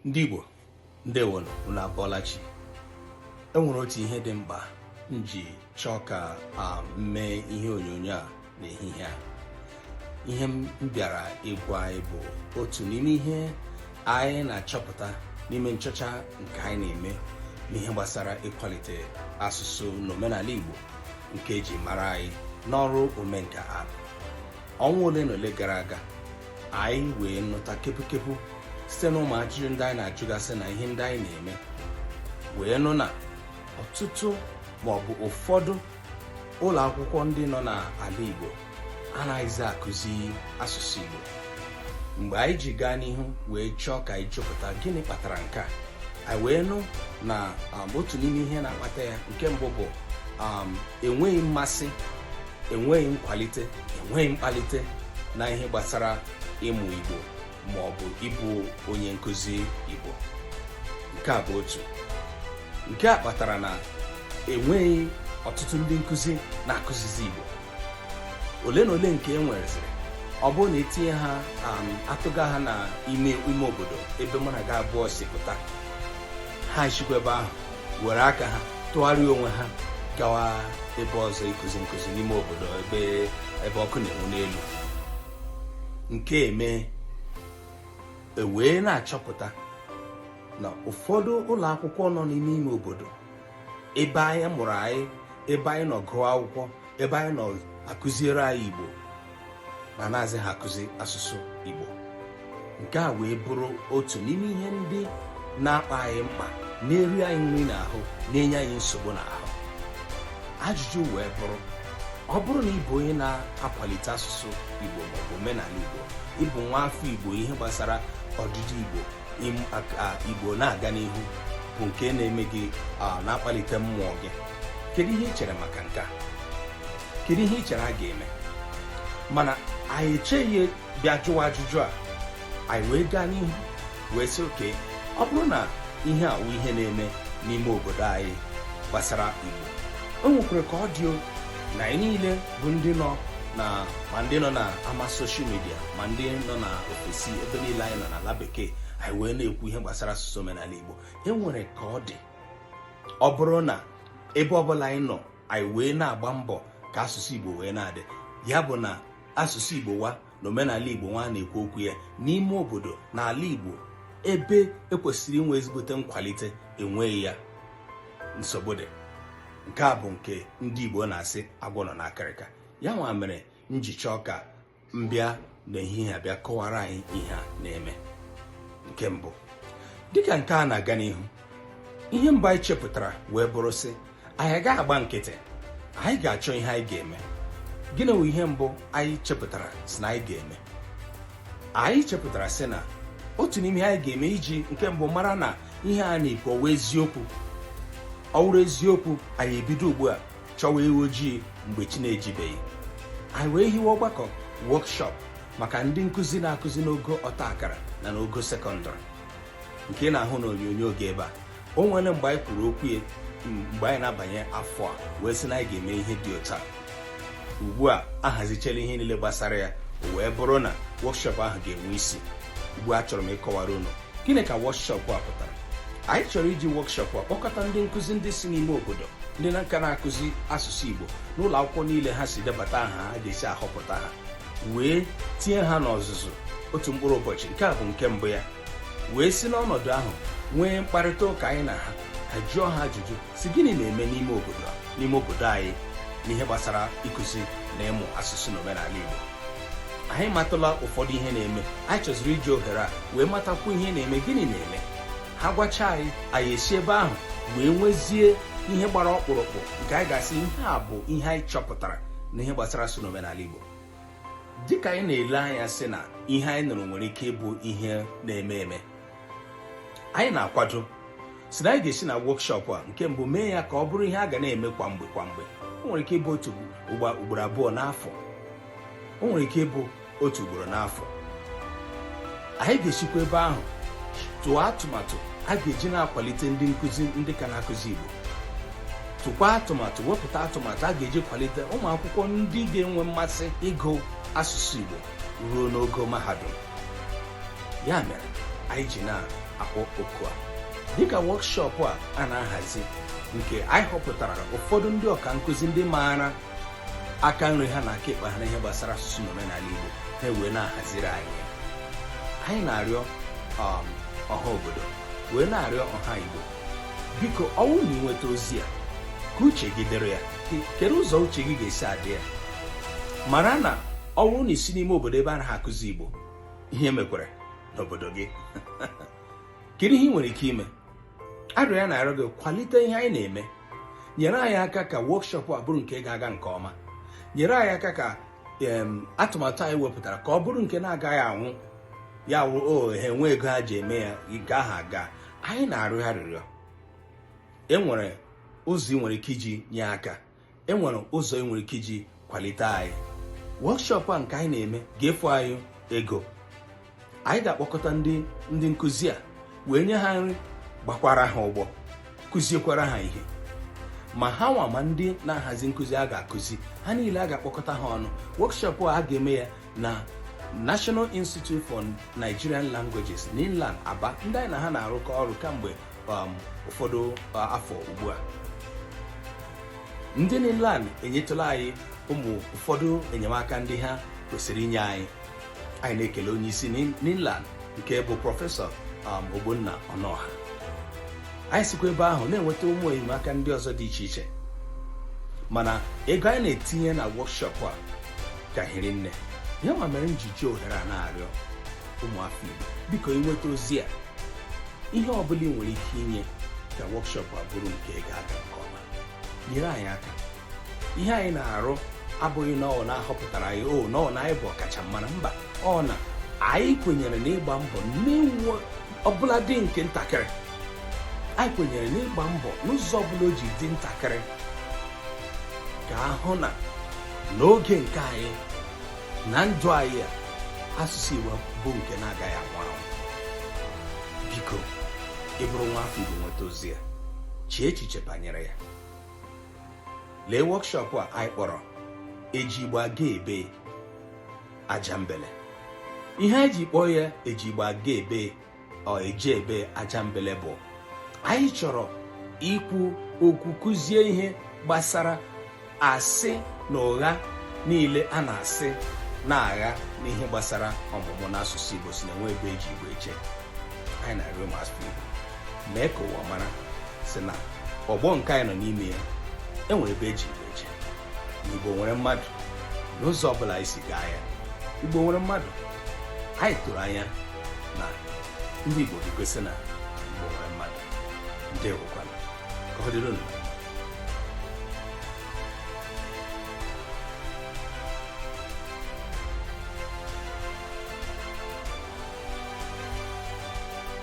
ndị Igbo ndewo unu abọọla chi enwere otu ihe dị mkpa m ji chọọ ka m mee ihe onyonyo a n'ehihie a ihe m bịara ịgwa anyị bụ otu n'ime ihe anyị na-achọpụta n'ime nchọcha nke anyị na-eme n'ihe gbasara ịkwalite asụsụ na omenala Igbo nke eji mara anyị n'ọrụ omenka app ọnwa ole na ole gara aga anyị wee nụta kepukepu site na ụmụ ajụjụ ndị anyị na-ajụgasị na ihe ndị anyị na-eme wee nụ na ọtụtụ ma ọ bụ ụfọdụ ụlọ akwụkwọ ndị nọ n'ala Igbo anaghịzi akụzi asụsụ Igbo mgbe anyị ji gaa n'ihu wee chọọ ka anyị chọpụta gịnị kpatara nke a anyị wee nụ na um, otu n'ime ihe na-akpata ya nke mbụ bụ um, enweghị mmasị enweghị nkwalite enweghị mkpalite na ihe gbasara ịmụ Igbo ma ọ bụ ịbụ onye nkụzi Igbo nke a bụ otu nke a kpatara na enweghị ọtụtụ ndị nkụzi na-akụzizi Igbo ole na ole nke e nwereziri ọ bụrụ na etinye ha um, atụga ha na ime ime obodo ebe mụ na gị abụọ si pụta ha sikwa ebe ahụ were aka ha tụgharịa onwe ha gawa ebe ọzọ ịkụzi nkụzi n'ime obodo ebe ọkụ na-enwu n'elu nke a emee ewee na-achọpụta na ụfọdụ ụlọ akwụkwọ nọ n'ime ime obodo ebe anyị mụrụ anyị ebe anyị nọ gụọ akwụkwọ ebe anyị nọ akụziere anyị Igbo na anazịghị akụzi asụsụ Igbo nke a wee bụrụ otu n'ime ihe ndị na-akpa anyị mkpa na-eri anyị nri n'ahụ na-enye anyị nsogbu n'ahụ ajụjụ wee bụrụ ọ bụrụ na ị bụ onye na-akwalite asụsụ Igbo maọbụ omenala Igbo ị bụ nwa afọ Igbo ihe gbasara ọdịdị Igbo Igbo na-aga n'ihu bụ nke na-eme gị na-akpalite mmụọ gị kedu ihe ị chere maka nke a kedu ihe ị chere a ga-eme mana anyị echeghị bịa jụwa ajụjụ a anyị wee gaa n'ihu wee sị oke ọ bụrụ na ihe a wụ ihe na-eme n'ime obodo anyị gbasara igbo o nwekwara ka ọ dị na anyị niile bụ ndị nọ na ma ndị nọ na ama soshal midia ma ndị nọ na ofesi ebe niile anyị nọ n'ala bekee anyị wee na-ekwu ihe gbasara asụsụ omenala igbo e nwere ka ọ dị ọ bụrụ na ebe ọbụla anyị nọ anyị wee na-agba mbọ ka asụsụ Igbo wee na-adị ya bụ na asụsụ Igbo wa na omenala Igbo nwa na-ekwu okwu ya n'ime obodo na ala Igbo ebe ekwesịrị inwe ezigbote nkwalite enweghị ya nsogbu dị nke a bụ nke ndị Igbo na-asị agwọ nọ n'akịrịka ya nwa mere m ji chọọ ka m bịa n'ehihie a bịa kọwara anyị ihe a na-eme nke mbụ dịka nke a na-aga n'ihu ihe mbụ anyị chepụtara wee bụrụ sị anyị agaghị agba nkịtị anyị ga-achọ ihe anyị ga-eme gịnị bụ ihe mbụ anyị chepụtara sị na anyị ga-eme anyị chepụtara sị na otu n'ime ihe anyị ga-eme iji nke mbụ mara na ihe a na-ekwu ọ wụ eziokwu ọ wụrụ eziokwu anyị ebido ugbu a chọwa ewu ojii mgbe chi na-ejibeghị anyị wee hiwe ọgbakọ wọkshọp maka ndị nkụzi na-akụzi n'ogo ọta akara na n'ogo sekọndịrị nke ị na-ahụ n'onyonyo oge ebe a o nwere mgbe anyị kwuru okwu ya mgbe anyị na-abanye afọ a wee sị na anyị ga-eme ihe dị otu a ugbu a ahazichela ihe niile gbasara ya wee bụrụ na wọkshọp ahụ ga-enwe isi ugbu a achọrọ m ịkọwara unu gịnị ka wọkshọpụ a pụtara anyị chọrọ iji wọkshọpụ a kpọkọta ndị nkụzi ndị si n'ime obodo ndị na nka na-akụzi asụsụ Igbo n'ụlọ akwụkwọ niile ha si debata aha a ga-esi ahọpụta ha wee tinye ha n'ọzụzụ otu mkpụrụ ụbọchị nke a bụ nke mbụ ya wee si n'ọnọdụ ahụ nwee mkparịta ụka anyị na ha ka a jụọ ha ajụjụ sị gịnị na-eme n'ime obodo n'ime obodo anyị n'ihe gbasara ịkụzi na ịmụ asụsụ na omenala Igbo anyị matụla ụfọdụ ihe na-eme anyị chọziri iji ohere a wee matakwu ihe na-eme gịnị na-eme ha gwacha anyị anyị esi ebe ahụ wee nwezie ihe gbara ọkpụrụkpụ nke anyị ga-asị ihe a bụ ihe anyị chọpụtara n'ihe gbasara asụsụ na omenala Igbo dịka anyị na-ele anya sị na ihe anyị nụrụ nwere ike ịbụ ihe na-eme eme anyị na-akwado sị na anyị ga-esi na wọkshọp a nke mbụ mee ya ka ọ bụrụ ihe a ga na-eme kwa mgbe kwa mgbe o nwere ike ịbụ otu ugboro abụọ n'afọ o nwere ike ịbụ otu ugboro n'afọ anyị ga-esikwa ebe ahụ tụọ atụmatụ a ga-eji na-akwalite ndị nkụzi ndị ka na-akụzi Igbo tụkwa atụmatụ wepụta atụmatụ a ga-eji kwalite ụmụ akwụkwọ ndị ga-enwe mmasị ịgụ asụsụ Igbo ruo n'ogo mahadum ya mere anyị ji na-akpọ oku a dịka wọkshọp a a na-ahazi nke anyị họpụtara ụfọdụ ndị ọka nkụzi ndị maara aka nri ha na aka ekpe ha n'ihe gbasara asụsụ na omenala Igbo ha ewee na-ahaziri anyị anyị na-arịọ um, ọha obodo wee na-arịọ ọha Igbo biko ọ wụ na i nweta ozi a ka uche gị dịrị ya kedu ụzọ uche gị ga-esi adị ya mara na ọ wụrụ na i si n'ime obodo ebe a naghị akụzi igbo ihe mekwara n'obodo gị kedu ihe ị nwere ike ime arịrịọ anyị na-arịọ gị kwalite ihe anyị na-eme nyere anyị aka ka wọkshọp a bụrụ nke ga-aga nke ọma nyere anyị aka ka atụmatụ anyị wepụtara ka ọ bụrụ nke na-agaghị anwụ ya wụ o oh, ha enwe ego ha ji eme ya nke ahụ aga anyị na-arịọ arịrịọ e nwere ụzọ ị nwere ike iji nye aka enwere ụzọ ị nwere ike iji kwalite anyị wọkshọp a nke anyị na-eme ga-efu anyị ego anyị ga-akpọkọta ndị ndị nkụzi a wee nye ha nri gbakwara ha ụgbọ kụziekwara ha ihe ma ha nwa ma ndị na-ahazi nkụzi a ga-akụzi ha niile a ga-akpọkọta ha ọnụ wọkshọp a ga-eme ya na National Institute for Nigerian Languages NINLAN Aba ndị anyị na ha na-arụkọ ọrụ kamgbe um, ụfọdụ uh, afọ ugbu a ndị NINLAN enyetụla anyị ụmụ ụfọdụ enyemaka ndị ha kwesịrị inye anyị anyị na-ekele onye isi NINLAN nke bụ prọfesọ um, Ogbonna Ọnụọha anyị sikwa ebe ahụ na-enweta ụmụ enyemaka ndị ọzọ dị iche iche mana ego anyị na-etinye na wọkshọp a ka hiri nne ya ma mere m ji ji ohere a na-arịọ ụmụafọ Igbo biko ị nweta ozi a ihe ọ bụla ị nwere ike inye ka wọkshọp a bụrụ nke ga-aga nke ọma nyere anyị aka ihe anyị na-arụ abụghị na ọ na a họpụtara anyị or na ọ na anyị bụ ọkachamara mba ọ na anyị kwenyere n'ịgba mbọ n'ihe ọbụla dị nke ntakịrị anyị kwenyere n'ịgba mbọ n'ụzọ ọbụla o ji dị ntakịrị ka a hụ na n'oge nke anyị na ndụ anyị a asụsụ Igbo bụ nke na-agaghị anwụ anwụ biko ị bụrụ nwa afọ Igbo nweta ozi a chee echiche banyere ya lee wọkshọpụ a anyị kpọrọ eji Igbo aga ebee aja mbele ihe anyị ji kpọọ ya eji Igbo aga ebee or eje ebee aja mbele bụ anyị chọrọ ikwu okwu kụzie ihe gbasara asị na ụgha niile a na-asị na-agha n'ihe gbasara ọmụmụ n'asụsụ Igbo sị na enweghị ebe eji Igbo eje anyị na-arịọ ụmụafọ Igbo mee ka ụwa mara sị na ọgbọ nke anyị nọ n'ime ya enwere ebe eji Igbo eje na Igbo nwere mmadụ n'ụzọ ọbụla anyị si gaa ya Igbo nwere mmadụ anyị tụrụ anya na ndị Igbo ga-egosi na Igbo nwere mmadụ ndeewokwanụ ka ọ dịrị unu